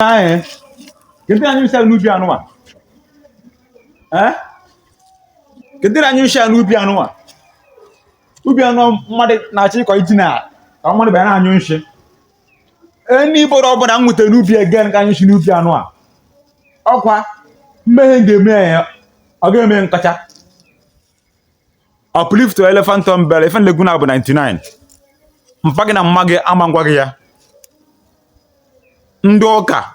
eh kedu ndị na-anyụ nshi n'ubi anụwa kedu ndị na-anyụ nshi n'ubi anụwa ubi anụ mmadụ na-achọ ịkọ ji na ka mmadụ bịa na-anyụ nshi onye bụrụ ọbụla m nweta n'ubi again ka anyụ nshi n'ubi anụwa ọkwa mmehie ga-eme ya ọ ga-eme nkọcha uplift to elephant on bell ife nlegwu na bụ 99 mpa gị na mma gị ama ngwa gị ya ndị ụka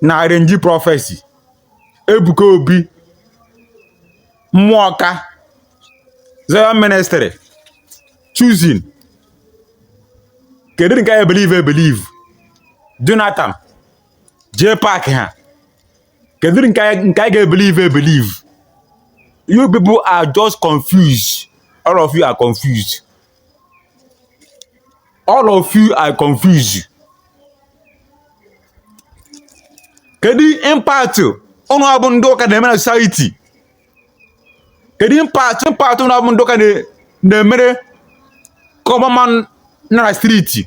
na arrange prophecy ebuka obi mmụọ ọka zion ministry chosen kedu nke a ya-ebelieve ebelieve jonathan jee paakị ha kedu nke anyị ga-ebelieve ebelieve you people are just confused all of you are confused all of you are confused kedu impact ụnụ bụ ndị ụka na-eme na society kedu impact ụnụ bụ ndị ụka na-emere common man na street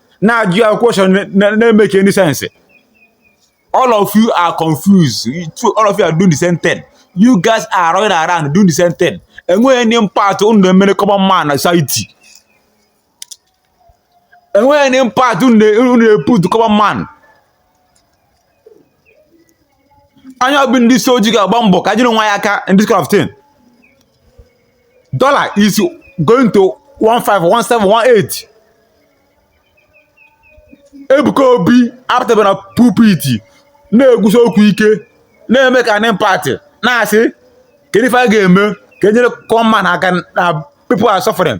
na-ajụ ya question na-emake any sense all of you are confused all of you are doing the same thing you guys are running around doing the same thing enweghị any impact unu na-emere common man na society enweghị any impact unu na-eput common man anyị bụ ndị isi ojii ga-agba mbọ ka anyị nyere onwe anyị aka in this kind of thing dollar is going to 1 5 1 7 1 8 Ebuka Obi apụtaba na pulpit na-ekwusi okwu ike na-emake an impact na-asị kedu ife a ga-eme ka e nyere common man aka na people are suffering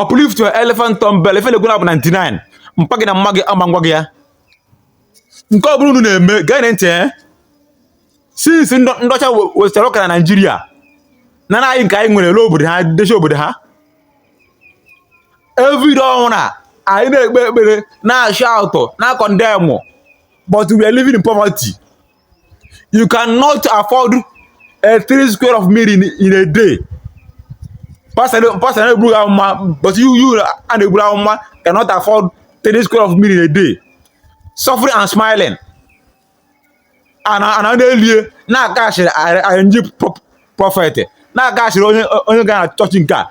uplift to elephant tumble ife legwu na bụ 99 mpa gị na mma gị ama ngwa gị ya nke ọ bụla unu na-eme geenụ ntị eh? since ndị ọcha wetara ụka na Naịjirịa na anyị nke anyị nwere ele obodo ha dezie obodo ha every day ọ wụrụ anyị na-ekpe ekpere na-ashout na-econdemn but we are living in poverty you cannot afford a three square of meal in, in a day pastor na-eburu amụma but you you a na-eburu amụma cannot afford three square of meal in a day suffering and smiling and and ana na-elie na-aka asịrị arrangee prophet na-aka asịrị onye ga na chọọchị nke a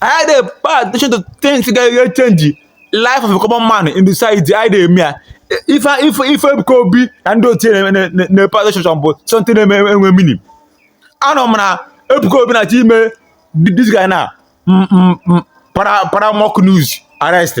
I dey pay attention to things wey dey really change the life of a common man in the society. I dey me if I if if I go be and do thing na na na pay attention but something na wey wey meaning. I know man Ebuka Obi na ti me this guy now mm, mm, mm, para para mock news arrest.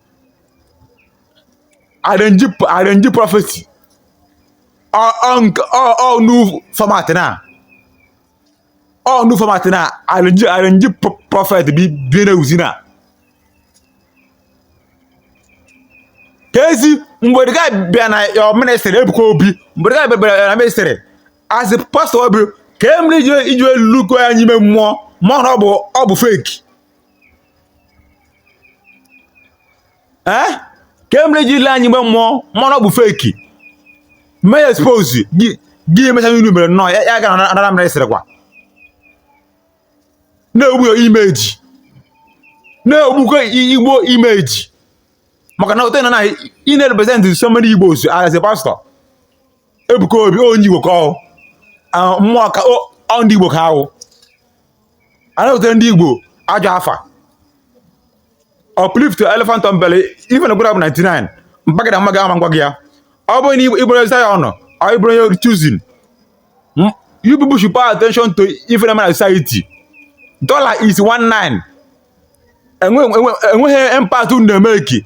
arrange arrange prophecy ọ ọ nke ọ ọ new format now ọ new format now arrange arrange pro- prophet bi bi na uzi na kezi mgbe dịka bịa na your ministry ebuka obi mgbe dịka bịa bịa na ministry as a pastor obi kee mere iji iji elu lekwa anya ime mmụọ ma na ọ bụ ọ bụ fake ee eh? kee mere i ji ile anya ime mmụọ ma na ọ bụ fake mee ya expose gị gị emecha ihe mere nnọọ ya gara na anara mere sịrị kwa na-egbu your image na-egbukwa igbo image maka na ote na na ị na-represent so many igbos as a pastor Ebuka Obi onye Igbo ka ọ mmụọ ka ọ ndị Igbo ka ahụ a na-ebute ndị Igbo ajọ afa uplift elephant on belly ife na gwara bụ 99 mpagada mma gị ama ngwa gị ya ọ bụrụ na ị bụrụ Zion ọ ị bụrụ onye Chosen you people should pay attention to ife na-eme na society dollar is 19 enweghị impact unu na-emake